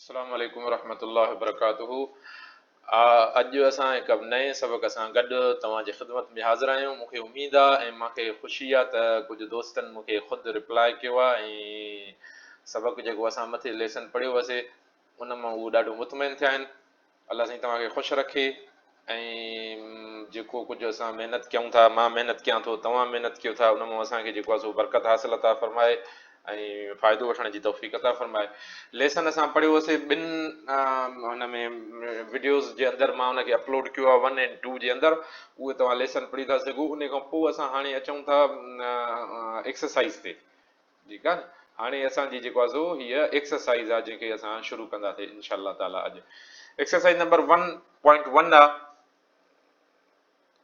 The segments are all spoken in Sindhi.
السلام عليڪم ورحمة الله وبرڪاته اڄ اسان هڪ نئين سبق سان گڏ توهان جي خدمت ۾ حاضر آهيون مون کي اميد آهي ۽ مان کي خوشي آهي ته ڪجهه دوستن مون کي خود ريپلاء ڪيو آهي ۽ سبق جيڪو اسان مٿي ليسن پڙهيو هوسي ان مان هو ڏاڍو مطمئن ٿيا آهن الله سائين توهان کي خوش رکي ۽ جيڪو ڪجهه اسان محنت ڪيون ٿا مان محنت ڪيان ٿو توهان محنت ڪيو ٿا ان مان اسان کي جيڪو آهي سو برڪت حاصل عطا فرمائي ۽ فائدو وٺڻ جي توفيق عطا فرمائي ليسن اسان پڙهيو هوسي ٻن هن ۾ وڊيوز جي اندر مان ان کي اپلوڊ ڪيو آهي ون اينڊ ٽو جي اندر اهي توهان ليسن پڙهي ٿا سگهو ان کان پوء اسان هاڻي اچون ٿا ايڪسرسائز تي ٺيڪ آ هاڻي اسان جي جيڪو آزو هيء ايڪسرسائيز آ جنهن کي اسان شروع ڪندا سي ان شاء الله تعالٰي اڄ exercise number one point one آ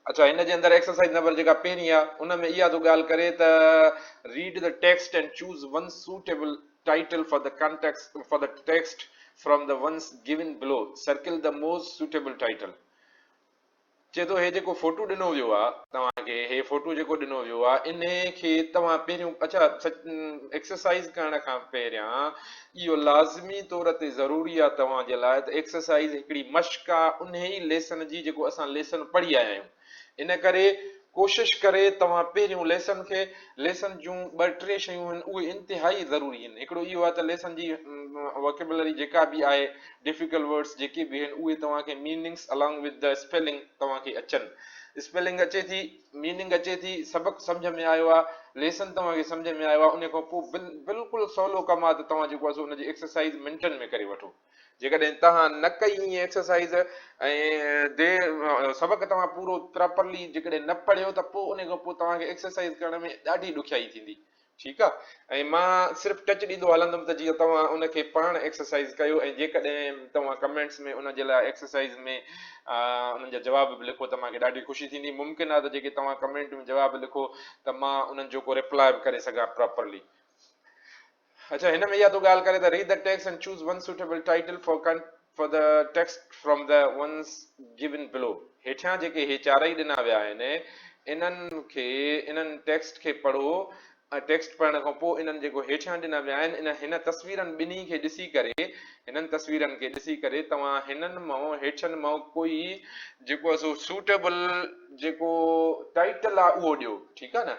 اچا هن جي اندر ايڪسرسائيز نمبر جيڪا پهرين آ ان ۾ اها ٿو ڳالهه ڪري ته read the text and choose one suitable title for the context for the text from the ones given below circle the most suitable title چئي ٿو هي جيڪو فوٽو ڏنو ويو آ توهان کي هي فوٽو جيڪو ڏنو ويو آ انهي کي توهان پهريون اڇا ايڪسرسائيز ڪرڻ کان پهريان اهو لازمي طور تي ضروري آ توهان جي لاء ته ايڪسرسائيز هڪڙي مشق آ انهي ليسن جي جيڪو اسان ليسن پڙهي آيا آهيون ان ڪري ڪوشش ڪري توهان پهريون ليسن کي ليسن جون ٻه ٽي شيون آهن اهي انتهائي ضروري آهن هڪڙو اهو آ ته ليسن جي وڪيبلري جيڪا به آهي ڊفيڪلٽ ورڊس جيڪي به آهن اهي توهان کي ميننگس الانگ وٿ دي اسپيلنگ توهان کي اچن اسپيلنگ اچي ٿي ميننگ اچي ٿي سبق سمجهه ۾ آيو آهي ليسن توهان کي سمجهه ۾ آيو آهي ان کان پوء بلڪل سولو ڪم آهي ته توهان جيڪو آهي سو ان جي ايڪسرسائز منٽن ۾ ڪري وٺو جيڪڏهن توهان نه ڪئي ائين ايڪسرسائز ۽ دي سبق توهان پورو پراپرلي جيڪڏهن نه پڙهيو ته پوء ان کان پوء توهان کي ايڪسرسائز ڪرڻ ۾ ڏاڍي ڏکيائي ٿيندي ٺيڪ آ ۽ مان صرف ٽچ ڏيندو هلندم ته جيئن توهان ان کي پاڻ ايڪسرسائيز ڪيو ۽ جيڪڏهن توهان ڪمينٽس ۾ ان جي لاء ايڪسرسائيز ۾ انهن جا جواب به لکو ته مان کي ڏاڍي خوشي ٿيندي ممڪن آ ته جيڪي توهان ڪمينٽ ۾ جواب لکو ته مان انهن جو ڪو ريپلاء به ڪري سگهان پراپرلي. اڇا هن ۾ اها تو ڳالهه ڪري ته Read the text and choose one suitable title for For the text from the ones given below، هيٺيان جيڪي هي چارئي ڏنا ويا آهن، انهن کي، انهن ٽيڪسٽ کي پڙهو ۽ ٽيڪسٽ پڙهڻ کان پوء انهن جيڪو هيٺيان ڏنا ويا آهن، انهن هن تصويرن ٻنهي کي ڏسي ڪري، هنن تصويرن کي ڏسي ڪري توهان هنن مان، هيٺين مان ڪوئي جيڪو آهي سو سوٽيبل جيڪو ٽائيٽل آهي اهو ڏيو، ٺيڪ آهي نه.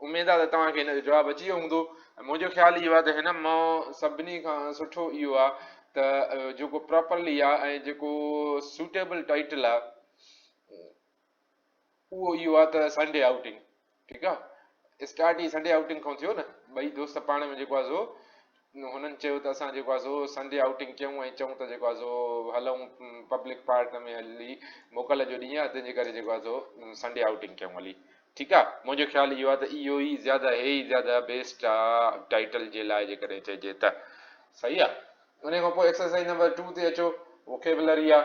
اميد آ ته توهان کي هن جو جواب اچي ويو هوندو ۽ منهنجو خيال اهو آ ته هن مان سڀني کان سٺو اهو آ ته جيڪو پراپرلي آ ۽ جيڪو سوٽيبل ٽائيٽل آ اهو اهو آ ته سنڊي آئوٽنگ ٺيڪ آ اسٽارٽ ئي سنڊي آئوٽنگ کان ٿيو نه ٻئي دوست پاڻ ۾ جيڪو آ سو هنن چيو ته اسان جيڪو آهي سو سنڊي آئوٽنگ ڪيون ۽ چئون ته جيڪو آهي سو هلئون پبلڪ پارٽ ۾ هلي موڪل جو ڏينهن آهي تنهن جي ڪري جيڪو آهي سو سنڊي آئوٽنگ ڪيون هلي ٺيڪ آهي منهنجو خيال اهو آهي ته اهو ئي زياده هي ئي زياده بيسٽ آهي ٽائيٽل جي لاء جيڪڏهن چئجي ته صحيح آهي ان کان پوء ايڪسرسائز نمبر ٽو تي اچو ووڪيبلري آهي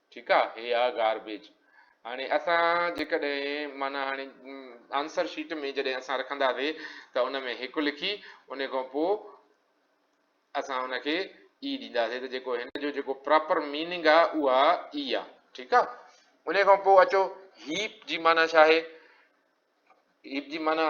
ٺيڪ آ هي آ گاربيج هاڻي اسان جيڪڏهن معنيٰ هاڻي آنسر شيٽ ۾ جڏهن اسان رکنداسي ته ان ۾ هڪ لکي ان کان پو اسان ان کي اي ڏينداسي ته جيڪو هن جو جيڪو پراپر ميننگ آ اها اي آ ٺيڪ آ ان کان پو اچو هيپ جي معنيٰ ڇا آهي هيپ جي معنيٰ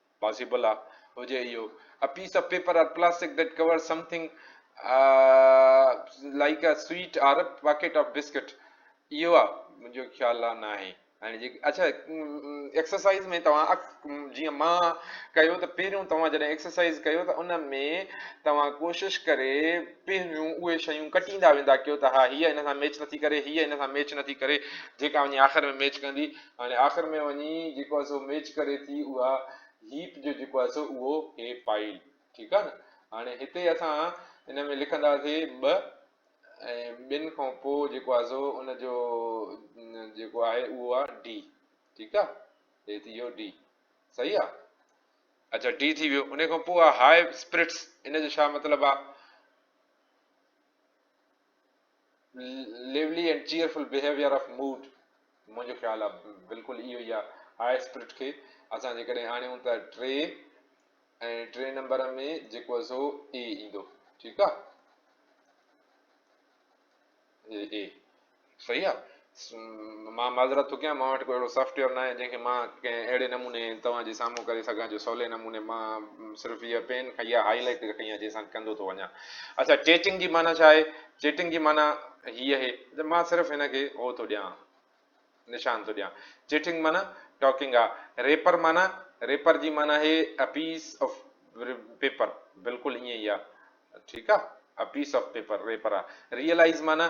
پاسيبل آ هجي اهو A piece of paper or plastic that covers something like a sweet or a packet of biscuit اهو آ منهنجو خيال آ ناهي اڇا ايڪسرسائز ۾ توهان جيئن مان ڪيو ته پهريون توهان جڏهن ايڪسرسائز ڪيو ته ان ۾ توهان ڪوشش ڪري پهريون اهي شيون ڪٽيندا ويندا ڪيو ته ها هيء ان سان ميچ نٿي ڪري هيء ان سان ميچ نٿي ڪري جيڪا وڃي آخر ۾ ميچ ڪندي هاڻي آخر ۾ وڃي جيڪو آهي سو ميچ ڪري ٿي اها هيپ جو جيڪو آهي سو اهو هي فائل ٺيڪ آهي نه هاڻي هتي اسان ان ۾ لکنداسي ٻه ۽ ٻن کان پوء جيڪو آهي سو ان جو جيڪو آهي اهو آهي ڊي ٺيڪ آهي هي ٿي ويو ڊي صحيح آهي اچھا ڊي ٿي ويو ان کان پوء آهي هاء اسپرٽس ان جو ڇا مطلب آهي lively and cheerful behaviour of mood منهنجو خيال آهي بلڪل اهو ئي آهي هاء اسپرٽ کي اسان جيڪڏهن آڻيون ته ٽي ۽ ٽي نمبر ۾ جيڪو آهي سو اي ايندو ٺيڪ آهي اي صحيح آهي مان معذرت ٿو ڪيان مان وٽ ڪو اهڙو سافٽ ويئر ناهي جنهن کي مان ڪنهن اهڙي نموني توهان جي سامهون ڪري سگهان جو سولي نموني مان صرف هيء پين کڻي يا هائي لائٽر کڻي يا جنهن سان ڪندو ٿو وڃان اڇا چيٽنگ جي معنيٰ ڇا آهي چيٽنگ جي معنيٰ هيء اهي ته مان صرف هن کي هو ٿو ڏيان نشان ٿو ڏيان چيٽنگ معنيٰ ٽاڪنگ آ ريپر معنيٰ ريپر جي معنيٰ هي ا پيس آف پيپر بلڪل ائين ئي آ ٺيڪ آ a piece of paper wrapper آ ريئلائز معنيٰ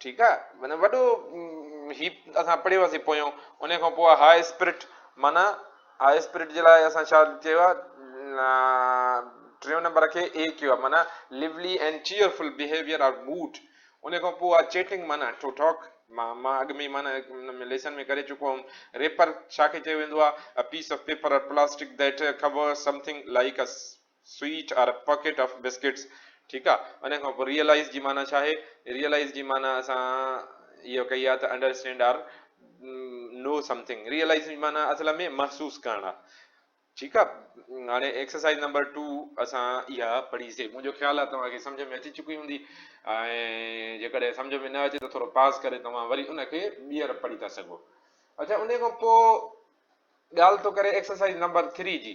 ٺيڪ آ معنيٰ وڏو هي اسان پڙهي واسي پويون انهي کان پوء هاء اسپرٽ معنيٰ هاء اسپرٽ جي لاء اسان ڇا چيو آ ٽيون نمبر کي اي چيو آ معنيٰ lively and cheerful behaviour or mood انهي کان پوء آ چيٽنگ معنيٰ ٽو ٽاڪ مان مان اڳ ۾ معنيٰ ليسن ۾ ڪري چڪو هيم ريپر ڇا کي چيو ويندو آ a piece of paper or plastic that covers something like a sweet or packet of biscuits ٺيڪ آ ان کان پوء ريئلائيز جي معنيٰ ڇا آهي ريئلائيز جي معنيٰ اسان اهو ڪئي آ ته understand or know something realize جي معنيٰ اصل ۾ محسوس ڪرڻ آ ٺيڪ آ هاڻي ايڪسرسائيز نمبر ٽو اسان اها پڙهي سي منهنجو خيال آ توهان کي سمجهه ۾ اچي چڪي هوندي ۽ جيڪڏهن سمجهه ۾ نه اچي ته ٿورو پاز ڪري توهان وري ان کي ٻيهر پڙهي ٿا سگهو اڇا ان کان پوء ڳالهه ٿو ڪري ايڪسرسائيز نمبر ٿري جي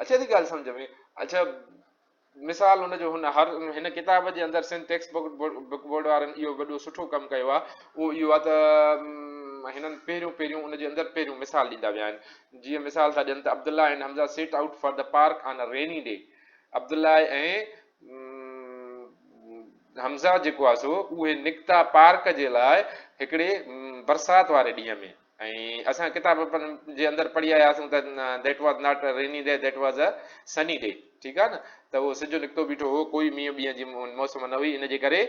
اچي ٿي ڳالهه سمجهه ۾؟ اڇا مثال ان جو هن هر هن ڪتاب جي اندر Sindh text book book board وارن اهو وڏو سٺو ڪم ڪيو آهي اهو اهو آهي ته هنن پهريون پهريون ان جي اندر پهريون مثال ڏيندا ويا آهن جيئن مثال ٿا ڏين ته Abdullah and Hamza set out for the park on a rainy day Abdullah ۽ Hamza جيڪو آهي سو اهي نڪتا پارڪ جي لاء هڪڙي برسات واري ڏينهن ۾ ۽ اسان ڪتاب جي اندر پڙهي آياسون ته That was not a rainy day, that was a sunny day ٺيڪ آهي نه ته اهو سج نڪتو بيٺو هو ڪوئي مينهن ٻينهن جي موسم نه هئي ان جي ڪري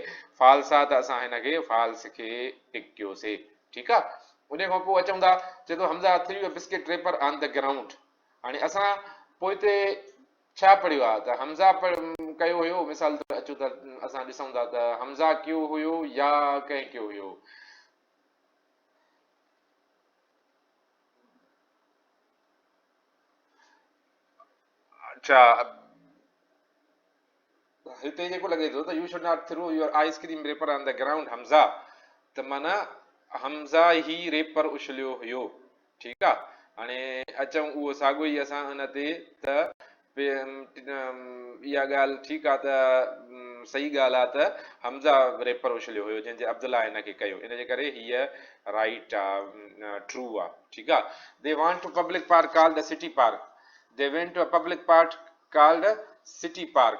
False آهي ته اسان هن کي False کي ٽڪ ڪيوسي ٺيڪ آهي ان کان پوء اچون ٿا چئي ٿو Hamza threw a biscuit wrapper on ته گرائونڊ هاڻي اسان پوئتي ڇا پڙهيو آهي ته حمزه ڪيو هيو مثال طور اچو ته اسان ڏسون ٿا ته حمزه ڪيو هيو يا ڪنهن ڪيو هيو اڇا هتي جيڪو لڳي ٿو ته you should not throw your ice cream wrapper on the ground Hamza ته مانا حمزا هي ريپر اڇليو هيو ٺيڪ آ هاڻي اچون اهو ساڳو ئي اسان ان تي ته اها ڳالهه ٺيڪ آ ته صحيح ڳالهه آ ته حمزه ريپر اڇليو هيو جنهن جي عبدالله ان کي ڪيو ان جي ڪري هيء رائيٽ آ ٽرو آ ٺيڪ آ they want to public park called city park they went to a public part called city park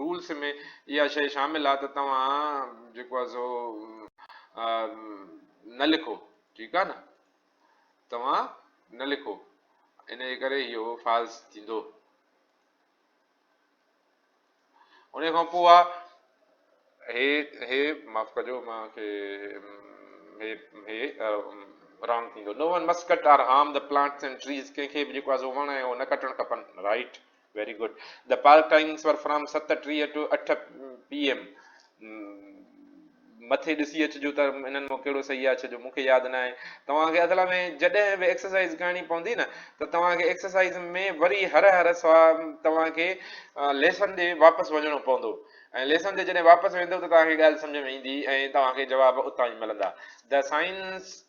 rules ۾ اها شيء شامل آهي ته توهان جيڪو آهي سو نه لکو ٺيڪ آهي نه توهان نه لکو ان جي ڪري اهو فالس ٿيندو ان کان پوء هي هي معاف ڪجو مان کي هي هي رانگ ٿيندو no one must are harm the plants and trees ڪنهن کي به جيڪو آهي سو وڻ ۽ هو نه ڪٽڻ کپن right Very good. The park times were from ست ٽيهه to اٺ PM. مٿي ڏسي اچجو ته انهن مان ڪهڙو صحيح آهي ڇو جو مونکي ياد نه آهي توهان کي اصل ۾ جڏهن به ايڪسرسائز ڪرڻي پوندي نه ته توهان کي ايڪسرسائز ۾ وري هر هر سوال توهان کي ليسن ڏي واپس وڃڻو پوندو ۽ ليسن تي جڏهن واپس ويندو ته توهان کي ڳالهه سمجھ ۾ ايندي ۽ توهان کي جواب اتان ئي ملندا د سائنس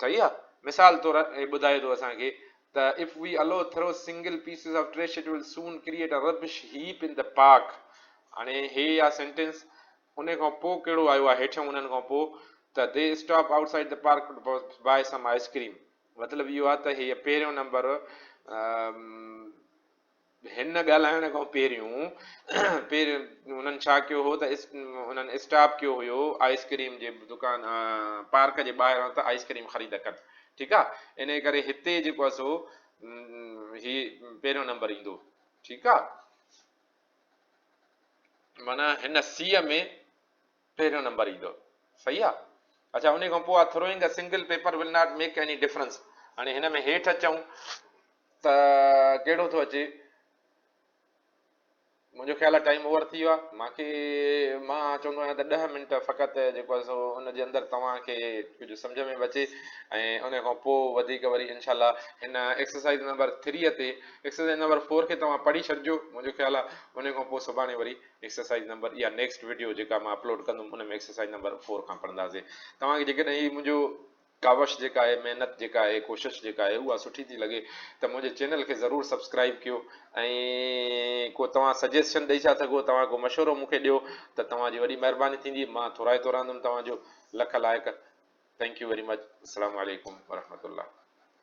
صحيح آ مثال طور هي ٻڌائي ٿو اسان کي ته if we allow throw single pieces of trash it will soon create a rubbish heap ان ته پارڪ هاڻي هي آ سينٽينس ان کان پو ڪهڙو آيو آ هيٺيون انهن کان پو ته they stop outside the park to buy some ice cream مطلب اهو آ ته هي پهريون نمبر هن ڳالهائڻ کان پهريون پير انهن ڇا ڪيو هو ته انهن اسٽاپ ڪيو هيو آئس ڪريم جي دڪان پارڪ جي ٻاهران ته آئس ڪريم خريد ڪن ٺيڪ آ انهي ڪري هتي جيڪو آ سو هي پهريون نمبر ايندو ٺيڪ آ معنيٰ هن سيء ۾ پهريون نمبر ايندو صحيح آ اڇا انهي کان پوء آ throwing a single paper will not make any difference هاڻي هن ۾ هيٺ اچون ته ڪهڙو ٿو اچي منهنجو خيال آ ٽائيم اوور ٿي ويو آ مانکي مان چوندو آهيان ته ڏهه منٽ فقط جيڪو آ سو ان جي اندر توهان کي ڪجهه سمجهه ۾ به اچي ۽ انهي کان پوء وڌيڪ وري انشاء الله هن ايڪسرسائيز نمبر ٿريء تي ايڪسرسائيز نمبر فور کي توهان پڙهي ڇڏجو منهنجو خيال آ انهي کان پوء سڀاڻي وري ايڪسرسائيز نمبر اها نيڪسٽ وڊيو جيڪا مان اپلوڊ ڪندم ان ۾ ايڪسرسائيز نمبر فور کان پڙهنداسين توهان کي جيڪڏهن هي منهنجو ڪاوش جيڪا آهي محنت جيڪا آهي ڪوشش جيڪا آهي اها سٺي ٿي لڳي ته منهنجي چينل کي ضرور سبسڪرائب ڪيو ۽ ڪو توهان سجيسشن ڏئي ٿا سگهو توهان ڪو مشورو مون کي ڏيو ته توهان جي وڏي مهرباني ٿيندي مان ٿورائتو رهندم توهان جو لک لائق ٿينڪ يو ويري مچ السلام عليڪم ورحمة الله